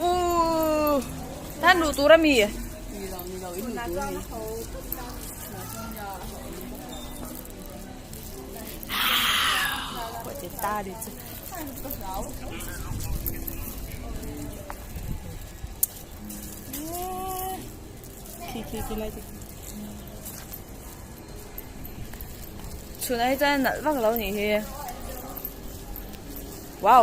Uuhh nan luh tur ami? Chhun ai chuan a nalh vak lo nih hi. Wow.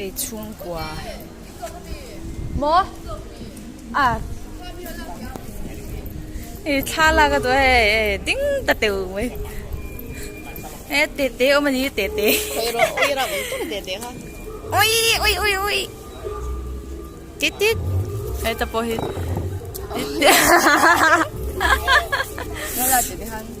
Ei chhungkua maw a ei thla la ka duh hei ei ding ta teu mai e te te om ani te te oi ro oi ram tum te te ha oi oi oi oi tit tit ei ta po hi tit tit